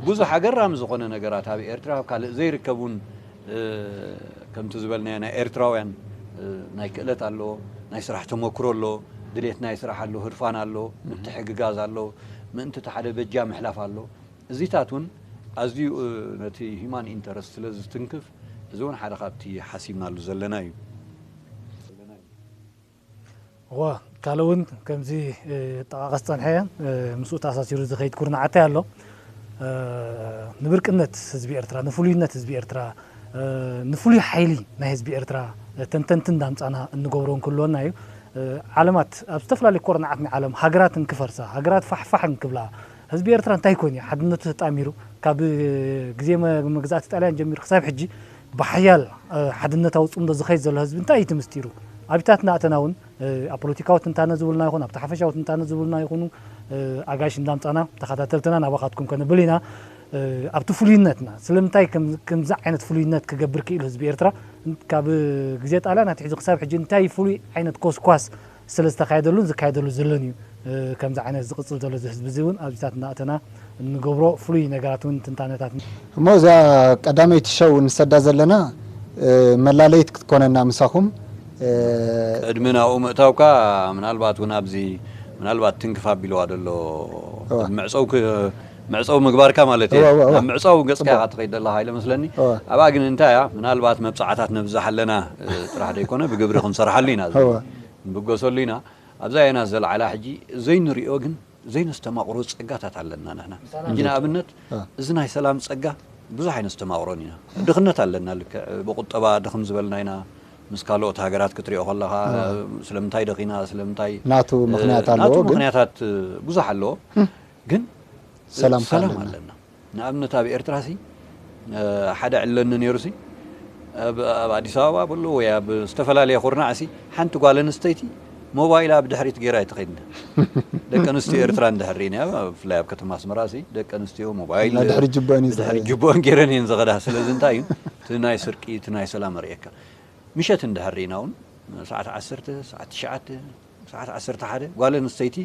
ብዙሕ ኣገራሚ ዝኾነ ነገራት ኣብ ኤርትራ ኣብ ካልእ ዘይርከብ ውን ከምቲ ዝበልናዮ ናይ ኤርትራውያን ናይ ክእለት ኣሎ ናይ ስራሕ ተመክሮ ኣሎ ድሌት ናይ ስራሕ ኣሎ ህርፋን ኣሎ ምትሕግጋዝ ኣሎ ምእንቲ እቲ ሓደ በጃ ምሕላፍ ኣሎ እዚታት ውን ኣዝዩ ነቲ ሂማን ኢንተረስት ስለ ዝትንክፍ እዚ ውን ሓደ ካብቲ ሓሲብናሉ ዘለና እዩ። እወ ካልእ እውን ከምዚ ጠቓቐስ ዝጸንሐ ምስኡ ተኣሳሲሩ ዝኸይድ ኩርናዓታይ ኣሎ። ንብርቅነት ህዝቢ ኤርትራ፣ ንፍሉይነት ህዝቢ ኤርትራ፣ ንፍሉይ ሓይሊ ናይ ህዝቢ ኤርትራ ተንተንቲ እንዳምጻና እንገብሮ እንክልወና እዩ። ዓለማት ኣብ ዝተፈላለዩ ኮርናዓት ናይ ዓለም ሃገራት እንክፈርሳ፣ ሃገራት ፋሕ ፋሕ እንክብላ፣ ህዝቢ ኤርትራ እንታይ ኮይኑ እዩ ሓድነቱ ተጣሚሩ ካብ ግዜ መግዛእቲ ጣልያን ጀሚሩ ክሳብ ሕጂ ብሓያል ሓድነታዊ ጽምዶ ዝኸይድ ዘሎ ህዝቢ እንታይ እዩ እቲ ምስጢሩ? ኣብታትና እተና እውን ኣብ ፖለቲካዊ ትንታነ ዝብሉና ይኹን ኣብቲ ሓፈሻዊ ትንታነ ዝብሉና ይኹኑ ኣጋይሽ እንዳምጻና ተኸታተልትና ናባኻትኩም ከነብል ኢና ኣብቲ ፍሉይነትና ስለምንታይ ከምዚ ዓይነት ፍሉይነት ክገብር ክኢሉ ህዝቢ ኤርትራ ካብ ግዜ ጣልያን ኣትሒዙ ክሳብ ሕጂ እንታይ ፍሉይ ዓይነት ኮስኳስ ስለ ዝተኻየደሉን ዝካየደሉ ዘሎን እዩ ከምዚ ዓይነት ዝቕጽል ዘሎ እዚ ህዝቢ እዚ እውን ኣብዚታት እናእተና እንገብሮ ፍሉይ ነገራት እውን ትንታነታት። እሞ እዛ ቀዳመይቲ ሸው እንሰዳ ዘለና መላለይት ክትኮነና ምሳኹም። ቅድሚ ናብኡ ምእታውካ ምናልባት እውን ኣብዚ ምናልባት ትንክፍ ኣቢልዋ ዘሎ መዕጸው መዕጸዊ ምግባርካ ማለት እየ እወ፣ እወ፣ እወ። ናብ ምዕጻው ገጽካ ጽቡቕ። ኢኻ ትኸይድ ዘለኻ ኢለ መስለኒ እወ። ኣብኣ ግን እንታይ እያ ምናልባት መብጽዓታት ነብዛሕ ኣለና እ፣ ጥራሕ ዘይኮነ ብግብሪ ክንሰርሓሉ ኢና እዚ እወ። ንብገሰሉ ኢና ኣብዛ የናስ ዘልዓላ ሕጂ ዘይንሪኦ ግን ዘይነስተማቕሮ ጸጋታት ኣለና ንሕና ሕጂ እንዴት? ንኣብነት እ። እዚ ናይ ሰላም ጸጋ ብዙሕ ኣይነስተማቕሮን ኢና ድኽነት ኣለና ልክዕ ብቑጠባ ድኽም ዝበልና ኢና ምስ ካልኦት ሃገራት ክትሪኦ ከለኻ እ፣ ስለምንታይ ደኺና ስለምንታይ ናቱ እ፣ ምኽንያት ኣለዎ ናቱ ግን ምኽንያታት እ፣ ብዙሕ ኣለዎ ግን ሰላም ኣለና ንኣብነት ኣብ ኤርትራ ሲ ሓደ ዕለኒ ነይሩ ሲ ኣብ ኣዲስ ኣበባ በሎ ወይ ኣብ ዝተፈላለየ ኩርናዕ ሲ ሓንቲ ጓል ኣንስተይቲ ሞባይላ ኣብ ድሕሪት ገይራ ኣይትኸይድን ደቂ ኣንስትዮ ኤርትራ እንድሕር ርኢና ብፍላይ ኣብ ከተማ ኣስመራ ሲ ደቂ ኣንስትዮ ሞባይል ድሕሪ ጅቦን ድሕሪ ጅቦን ገይረን እየን ዝኸዳ ስለዚ እንታይ እዩ እቲ ናይ ስርቂ እቲ ናይ ሰላም ርእየካ ምሸት እንድሕር ርኢና እውን ሰዓት ዓሰርተ ሰዓት ትሽዓተ ሰዓት ዓሰርተ ሓደ ጓል ኣንስተይቲ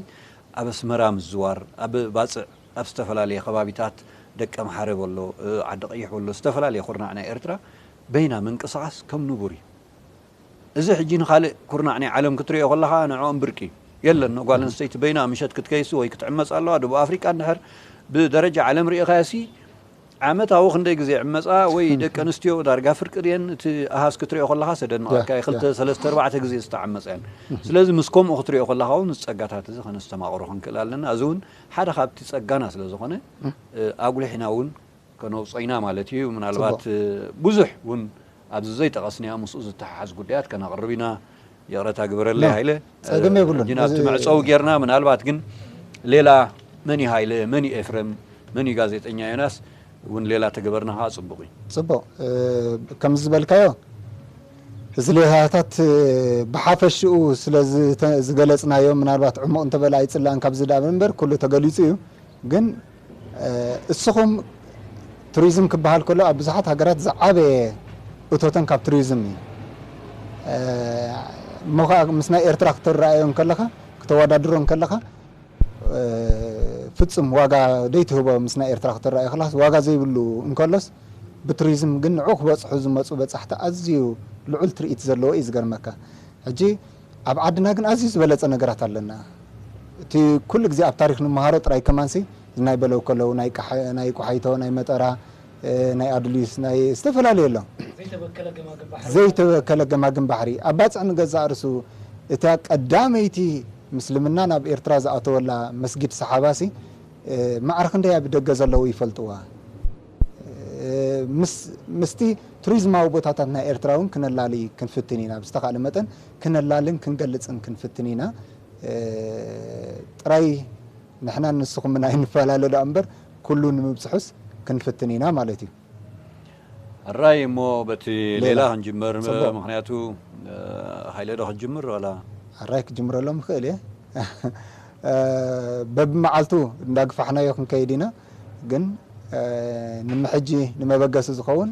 ኣብ ኣስመራ ምዝዋር፣ ኣብ ባጽዕ ኣብ ዝተፈላለየ ከባቢታት ደቀምሓረ በሎ ዓዲቐይሕ በሎ ዝተፈላለየ ኩርናዕ ናይ ኤርትራ በይና ምንቅስቓስ ከም ንቡር እዩ። እዚ ሕጂ ንኻልእ ኩርናዕ ናይ ዓለም ክትርእዮ ከለኻ ንዕኦም ብርቂ እዩ። የለን ጓል ኣንስተይቲ በይና ምሸት ክትከይሲ ወይ ክትዕመጽ ኣለዋ፣ ደቡብ ኣፍሪቃ እንድሕር ብደረጃ ዓለም ርኢኻዮሲ ዓመታዊ ክንደይ ግዜ ይዕመጻ ወይ ደቂ ኣንስትዮ ዳርጋ ፍርቂ ድየን እቲ ኣሃዝ ክትሪኦ ከለኻስ የደንቐካ እዩ ክልተ ሰለስተ ኣርባዕተ ግዜ ዝተዓመጻ እየን ስለዚ ምስ ከምኡ ክትሪኦ ከለኻ ውን እዚ ጸጋታት እዚ ከነስተማቕሮ ክንክእል ኣለና እዚ ውን ሓደ ካብቲ ጸጋና ስለ ዝኾነ ኣጉሊሕና ውን ከነውጾ ኢና ማለት እዩ ምናልባት ብዙሕ ውን ኣብዚ ዘይጠቐስናዮ ምስኡ ዝተሓሓዝ ጉዳያት ከነቕርብ ኢና ይቕረታ ግበረለይ ሃይለ ጸገም የብሉን ጂና ኣብቲ መዕጸዊ ጌርና ምናልባት ግን ሌላ መን እዩ ሃይለ መን እዩ ኤፍረም መን እዩ ጋዜጠኛ ዮናስ እውን ሌላ ተገበርና ከዓ ጽቡቕ እዩ ጽቡቕ ከም ዝበልካዮ እዚ ሌላታት ብሓፈሽኡ ስለ ዝገለጽናዮ ምናልባት ዕሙቕ እንተበለ ኣይጽላእን ካብዚ ዳብ እምበር ኩሉ ተገሊጹ እዩ ግን እስኹም ቱሪዝም ክበሃል ከሎ ኣብ ብዙሓት ሃገራት ዝዓበየ እቶተን ካብ ቱሪዝም እዩ። እሞ ከኣ ምስ ናይ ኤርትራ ክተረኣዮ እንከለኻ ክተወዳድሮ እንከለኻ ፍጹም ዋጋ ዘይትህቦ ምስ ናይ ኤርትራ ክተረኣዮ ከለኻስ ዋጋ ዘይብሉ እንከሎስ ብቱሪዝም ግን ንዑ ክበጽሑ ዝመጹ በጻሕቲ ኣዝዩ ልዑል ትርኢት ዘለዎ እዩ ዝገርመካ ሕጂ ኣብ ዓድና ግን ኣዝዩ ዝበለጸ ነገራት ኣለና እቲ ኩሉ ግዜ ኣብ ታሪኽ ንመሃሮ ጥራይ ከማንሲ ናይ በለውከለው ናይ ቃሕ ናይ ቆሓይቶ ናይ መጠራ ናይ ኣዱሊስ ናይ ዝተፈላለየ ኣሎ ዘይተበከለ ገማግም ባሕሪ እያ። ዘይተበከለ ገማግም ባሕሪ ኣብ ባጽዕ ንገዛእ ርእሱ እታ ቀዳመይቲ ምስልምና ናብ ኤርትራ ዝኣተወላ መስጊድ ሰሓባሲ ማዕረ ክንደይ ኣብ ደገ ዘለዉ ይፈልጥዋ ምስቲ ቱሪዝማዊ ቦታታት ናይ ኤርትራ እውን ክነላሊ ክንፍትን ኢና። ብዝተኻእለ መጠን ክነላልን ክንገልጽን ክንፍትን ኢና። ጥራይ ንሕናን ንስኹምን ኣይንፈላለ ደኣ እምበር ኩሉ ንምብጽሑስ ክንፍትን ኢና ማለት እዩ። ሕራይ እሞ በቲ ሌላ ክንጅምር። ምኽንያቱ ሃይለ ዶ ክትጅምር ዋላ? ሕራይ ክጅምረሎም እኽእል እየ። በብመዓልቱ እንዳግፋሕናዮ ክንከይድ ኢና። ግን ንምሕጂ ንመበገሲ ዝኸውን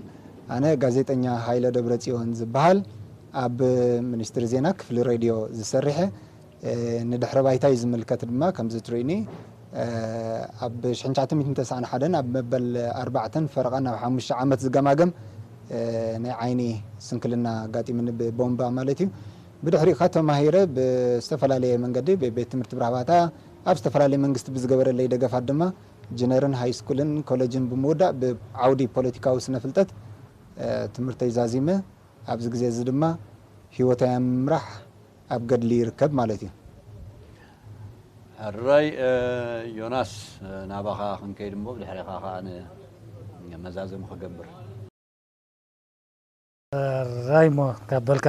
ኣነ ጋዜጠኛ ሃይለ ደብረጽዮን ዝበሃል ኣብ ሚኒስትሪ ዜና ክፍሊ ሬድዮ ዝሰሪሐ ንድሕረ ባይታይ ዝምልከት ድማ ከምዚ ትርእዩኒ ኣብ ሽሕን ትሽዓተ ሚእትን ተስዓን ሓደን ኣብ መበል ኣርባዕተን ፈረቓን ናብ ሓሙሽተ ዓመት ዝገማገም ናይ ዓይኒ ስንክልና ኣጋጢሙኒ ብቦምባ ማለት እዩ ብድሕሪኡ ከ ተማሂረ ብዝተፈላለየ መንገዲ ቤት ትምህርቲ ብራህባታ ኣብ ዝተፈላለየ መንግስቲ ብዝገበረለይ ደገፋት ድማ ጅነርን ሃይስኩልን ኮለጅን ብምውዳእ ብዓውዲ ፖለቲካዊ ስነፍልጠት ትምህርተይ ዛዚመ ኣብዚ ግዜ እዚ ድማ ህይወተይ ኣብ ምምራሕ ኣብ ገድሊ ይርከብ ማለት እዩ። ሕራይ ዮናስ ናባኻ ክንከይድ እሞ ብድሕሬኻ ከኣ መዛዘሚ ክገብር። ራይሞ ካብ በልካ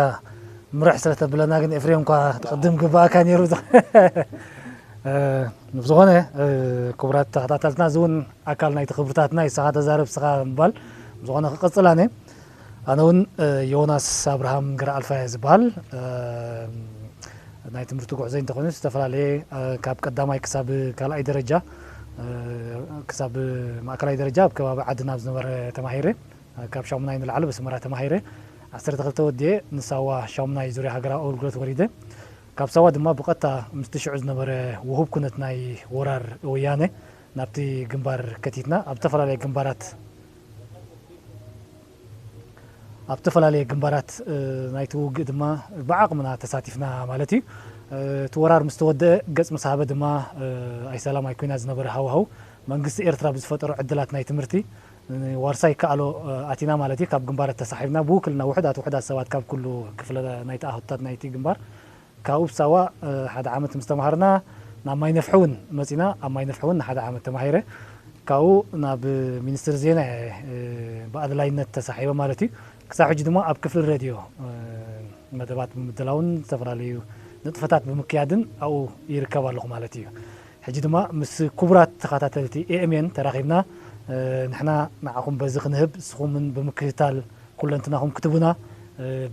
ምርሕ ስለ ተብለና ግን ኤፍሬም እኳ ቅድም ግባእካ ነይሩ ዝኾነ ክቡራት ተኸታተልትና እዚ እውን ኣካል ናይቲ ክብርታትና ይስኻ ተዛረብ ስኻ ምባል ዝኾነ ክቅፅል ኣነ ኣነ እውን ዮናስ ኣብርሃም ግራ ኣልፋ እየ ዝበሃል ናይ ትምህርቲ ጉዕዞ እንተኾይኑ ዝተፈላለየ ካብ ቀዳማይ ክሳብ ካልኣይ ደረጃ ክሳብ ማእከላይ ደረጃ ኣብ ከባቢ ዓድና ኣብ ዝነበረ ተማሂረ ካብ ሻሙናይ ንላዕሊ ብስመራ ተማሂረ ዓሰርተ ክልተ ወዲኤ ንሳዋ ሻሙናይ ዙርያ ሃገራዊ ኣገልግሎት ወሪደ ካብ ሳዋ ድማ ብቀጥታ ምስቲ ሽዑ ዝነበረ ውሁብ ኩነት ናይ ወራር ወያነ ናብቲ ግንባር ከቲትና ኣብ ዝተፈላለየ ግንባራት ኣብ ተፈላለየ ግንባራት ናይቲ ውግእ ድማ ብዓቕምና ተሳቲፍና ማለት እዩ እቲ ወራር ምስ ተወደአ ገጽ ምስ ሃበ ድማ ኣይሰላም ኣይኩናት ዝነበረ ሃዋህው መንግስቲ ኤርትራ ብዝፈጠሮ ዕድላት ናይ ትምህርቲ ንዋርሳይ ይከኣሎ ኣቲና ማለት እዩ ካብ ግንባር ተሳሒብና ብውክልና ውሑዳት ውሑዳት ሰባት ካብ ኩሉ ክፍለ ናይቲ ኣሁትታት ናይቲ ግንባር ካብኡብ ሳዋ ሓደ ዓመት ምስ ተማሃርና ናብ ማይነፍሒ ውን መጺና ኣብ ማይነፍሒ ውን ንሓደ ዓመት ተማሂረ ካብኡ ናብ ሚኒስትሪ ዜና እየ ብኣድላይነት ተሳሒበ ማለት እዩ ክሳብ ሕጂ ድማ ኣብ ክፍሊ ረድዮ መደባት ብምድላውን ዝተፈላለዩ ንጥፈታት ብምክያድን ኣብኡ ይርከብ ኣለኹ ማለት እዩ ሕጂ ድማ ምስ ኩቡራት ተኻታተልቲ EMN ተራኺብና ንሕና ንዓኹም በዚ ክንህብ ንስኹምን ብምክትታል ኩለንትናኹም ክትቡና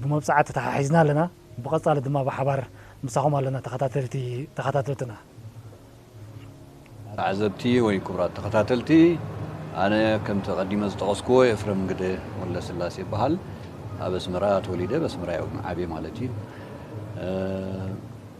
ብመብጻዓ ተታሓሒዝና ኣለና ብቐጻሊ ድማ ብሓባር ምሳኹም ኣለና ተኻታተልቲ ተኻታተልትና። ተዓዘብቲ ወይ ኩቡራት ተኸታተልቲ ኣነ ከምቲ ቀዲመ ዝጠቐስኩዎ ኤፍረም ግደ ወልደስላሴ እብሃል ኣብ ኣስመራ ተወሊደ ኣብ ኣስመራ እየ ዓብየ ማለት እዩ።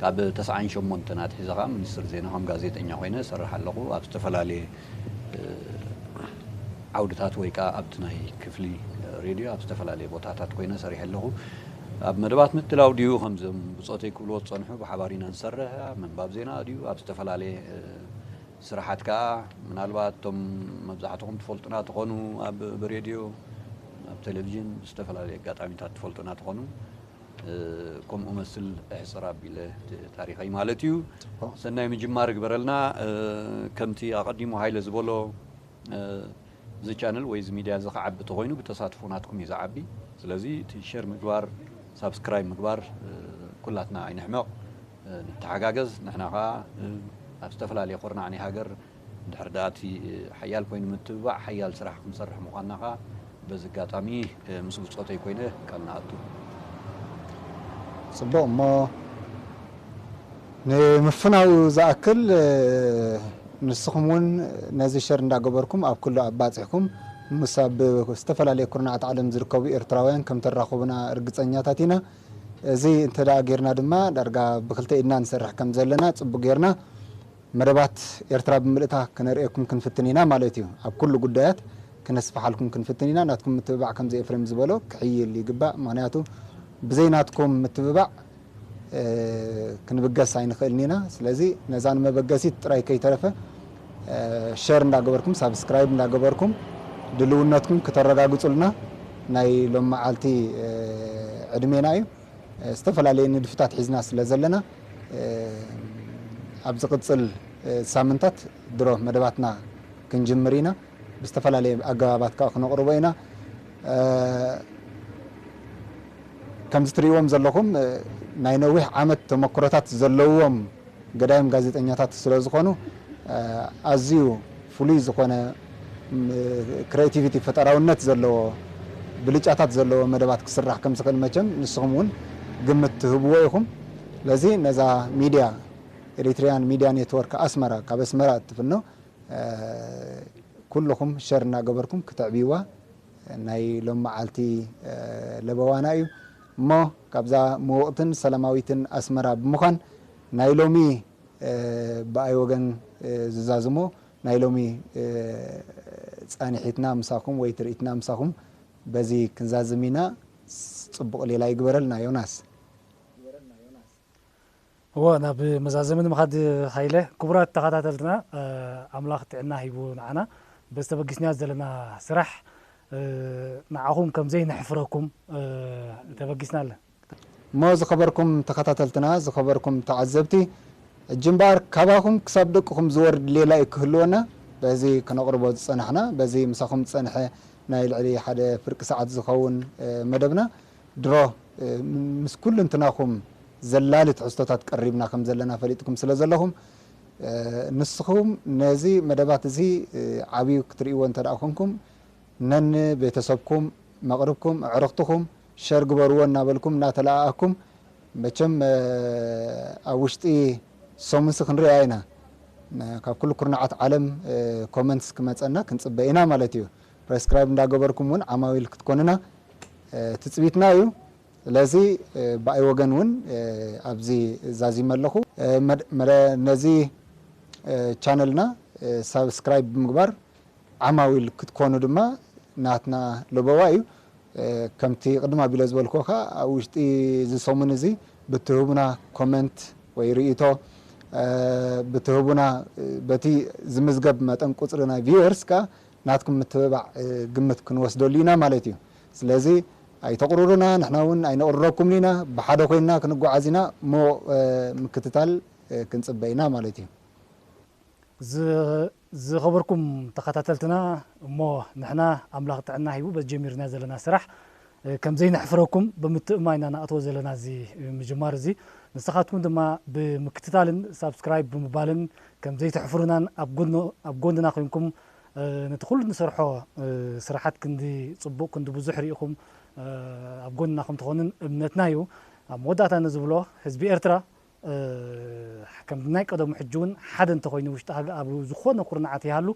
ካብ ተስዓን ሸሞንተን ኣትሒዘ ከኣ ሚኒስትር ዜና ከም ጋዜጠኛ ኮይነ እሰርሕ ኣለኹ። ኣብ ዝተፈላለየ ዓውድታት ወይ ከኣ ኣብቲ ናይ ክፍሊ ሬድዮ ኣብ ዝተፈላለየ ቦታታት ኮይነ ሰሪሐ ኣለኹ። ኣብ መደባት ምድላው ድዩ ከምዞም ብጾተይ ክብልዎ ዝጸንሑ ብሓባር ኢና ንሰርሕ፣ ኣብ ምንባብ ዜና ድዩ ኣብ ዝተፈላለየ ስራሓት ከኣ ምናልባት እቶም መብዛሕትኹም ትፈልጡና ትኾኑ ኣብ ብሬድዮ ኣብ ቴለቪዥን ብዝተፈላለየ ኣጋጣሚታት ትፈልጡና ትኾኑ። ከምኡ መስል እሕጽር ኣቢለ እቲ ታሪኸይ ማለት እዩ። ጽቡቕ። ሰናይ ምጅማር ይግበረልና። እ፣ ከምቲ ኣቐዲሙ ሃይለ ዝበሎ እ፣ እዚ ቻነል ወይ እዚ ሚድያ እዚ ክዓቢ ተኾይኑ ብተሳትፎ ናትኩም እዩ ዝዓቢ። ስለዚ እቲ ሼር ምግባር ሳብስክራይብ ምግባር እ፣ ኩላትና ኣይንሕመቕ እ፣ ንተሓጋገዝ ንሕና ከኣ እ፣ ኣብ ዝተፈላለየ ኩርናዕ ናይ ሃገር እንድሕር ደኣ እቲ ሓያል ኮይኑ ምትብባዕ ሓያል ስራሕ ክንሰርሕ ምዃንና ከኣ በዚ ኣጋጣሚ ምስ ብጾተይ ኮይነ ቃል ንኣቱ። ጽቡቕ እሞ ንምፍናዉ ዝኣክል ንስኹም ውን ነዚ ሸር እንዳ ገበርኩም ኣብ ኩሉ ኣባጺሕኩም ምስ ኣብ ዝተፈላለየ ኩርናዓት ዓለም ዝርከቡ ኤርትራውያን ከም ተራኹቡና ርግጸኛታት ኢና እዚ እንተ ጌርና ድማ ዳርጋ ብክልተ ኢድና ንሰርሕ ከም ዘለና ጽቡቕ ጌርና መደባት ኤርትራ ብምልእታ ክነርእየኩም ክንፍትን ኢና ማለት እዩ። ኣብ ኩሉ ጉዳያት ክነስፍሓልኩም ክንፍትን ኢና። ናትኩም ምትብባዕ ከምዚ ኤፍሬም ዝበሎ ክሕይል ይግባእ። ምኽንያቱ ብዘይ ናትኩም ምትብባዕ ክንብገስ ኣይንኽእልን ኢና። ስለዚ ነዛ ንመበገሲት ጥራይ ከይተረፈ ሸር እንዳገበርኩም ሳብስክራይብ እንዳገበርኩም ድልውነትኩም ክተረጋግጹልና ናይ ሎምመዓልቲ ዕድሜና እዩ። ዝተፈላለየ ንድፍታት ሒዝና ስለ ዘለና ኣብ ዝቕጽል ሳምንታት ድሮ መደባትና ክንጅምር ኢና። ብዝተፈላለየ ኣገባባት ከኣ ክነቕርቦ ኢና። ከምዚ ትርእይዎም ዘለኹም ናይ ነዊሕ ዓመት ተመኩሮታት ዘለዎም ገዳይም ጋዜጠኛታት ስለዝኾኑ ኣዝዩ ፍሉይ ዝኾነ ክረኤቲቪቲ፣ ፈጠራውነት፣ ዘለዎ ብልጫታት ዘለዎ መደባት ክስራሕ ከም ዝኽእል መቸም ንስኹም እውን ግምት ትህብዎ ኢኹም። ስለዚ ነዛ ሚድያ Eritrean Media Network Asmara ካብ ኣስመራ እትፍኖ ኩሉኹም ሸር እናገበርኩም ክተዕብይዋ ናይ ሎሚ መዓልቲ ለበዋና እዩ። እሞ ካብዛ ምውቕትን ሰላማዊትን ኣስመራ ብምዃን ናይ ሎሚ ብኣይ ወገን ዝዛዝሞ ናይ ሎሚ ጻኒሒትና ምሳኹም ወይ ትርኢትና ምሳኹም በዚ ክንዛዝም ኢና ጽቡቕ ሌላ ይግበረልና ዮናስ። እወ ናብ መዛዘሚ ንምኻድ ሃይለ ክቡራት ተኻታተልትና ኣምላኽ ጥዕና ሂቡ ንዓና በዚ ተበጊስናዮ ዘለና ስራሕ ንዓኹም ከም ዘይነሕፍረኩም ተበጊስና ኣለ። እሞ ዝኸበርኩም ተኻታተልትና ዝኸበርኩም ተዓዘብቲ ሕጂ እምበኣር ካባኹም ክሳብ ደቅኹም ዝወርድ ሌላ እዩ ክህልወና በዚ ከነቕርቦ ዝጸናሕና በዚ ምሳኹም ዝጸንሐ ናይ ልዕሊ ሓደ ፍርቂ ሰዓት ዝኸውን መደብና ድሮ ምስ ኩሉንትናኹም ዘላሊ ትሕዝቶታት ቀሪብና ከም ዘለና ፈሊጥኩም ስለ ዘለኹም፣ ንስኹም ነዚ መደባት እዚ ዓብዩ ክትርእይዎ እንተ ደኣ ኹንኩም፣ ነን ቤተሰብኩም፣ መቕርብኩም፣ ኣዕርኽትኹም ሸር ግበርዎ እናበልኩም እናተለኣኣኩም፣ መቸም ኣብ ውሽጢ ሰሙንሲ ክንርእያ ኢና፣ ካብ ኩሉ ኩርናዓት ዓለም ኮመንትስ ክመጸና ክንጽበ ኢና ማለት እዩ። ፕረስክራይብ እንዳገበርኩም ውን ዓማዊል ክትኮኑና ትጽቢትና ኢዩ። ስለዚ ብኣይ ወገን ውን ኣብዚ ዛዚመ ኣለኹ። ነዚ ቻነልና ሳብስክራይብ ብምግባር ዓማዊል ክትኮኑ ድማ ናትና ለበዋ ኢዩ። ከምቲ ቅድም ኣቢለ ዝበልኩዎ ከኣ ኣብ ውሽጢ እዚ ሰሙን እዚ ብትህቡና ኮመንት ወይ ርእይቶ ብትህቡና በቲ ዝምዝገብ መጠን ቁጽሪ ናይ ቪወርስ ከኣ ናትኩም ምትብባዕ ግምት ክንወስደሉ ኢና ማለት እዩ። ስለዚ ኣይተቑርሩና ንሕና እውን ኣይነቑርረኩምን ኢና። ብሓደ ኮይንና ክንጓዓዝ ኢና እሞ ምክትታል ክንጽበ ኢና ማለት እዩ። ዝኸበርኩም ተኸታተልትና እሞ ንሕና ኣምላኽ ጥዕና ሂቡ በዚ ጀሚርናዮ ዘለና ስራሕ ከም ዘይነሕፍረኩም ብምትእምማን ኢና ነኣትዎ ዘለና እዚ ምጅማር እዚ። ንስኻትኩም ድማ ብምክትታልን ሳብስክራይብ ብምባልን ከም ዘይተሕፍሩናን ኣብ ጎንና ኮይንኩም ነቲ ኩሉ ንሰርሖ ስራሓት ክንዲ ጽቡቅ ክንዲ ብዙሕ ሪኢኹም ኣብ ጎንና ከም ትኾኑን እምነትና እዩ። ኣብ መወዳእታ ንዝብሎ ህዝቢ ኤርትራ ከም ናይ ቀደሙ ሕጂ ውን ሓደ እንተኾይኑ ውሽጢ ኣብ ዝኾነ ኩርናዓት ይሃሉ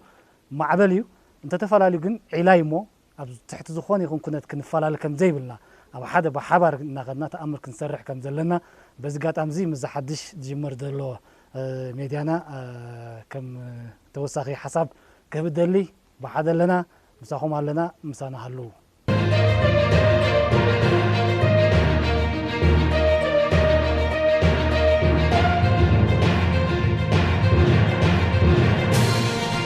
ማዕበል እዩ እንተተፋላልዩ ግን ዒላ እዩ እሞ ኣብ ትሕቲ ዝኾነ ይኹን ኩነት ክንፈላለ ከም ዘይብልና፣ ኣብ ሓደ ብሓባር እናኸድና ተኣምር ክንሰርሕ ከም ዘለና በዚ ኣጋጣሚ'ዚ ምስዚ ሓድሽ ዝጅመር ዘሎ ሜድያና ከም ተወሳኺ ሓሳብ ክህብ እደሊ። ብሓደ ኣለና፣ ምሳኹም ኣለና፣ ምሳና ሃልዉ።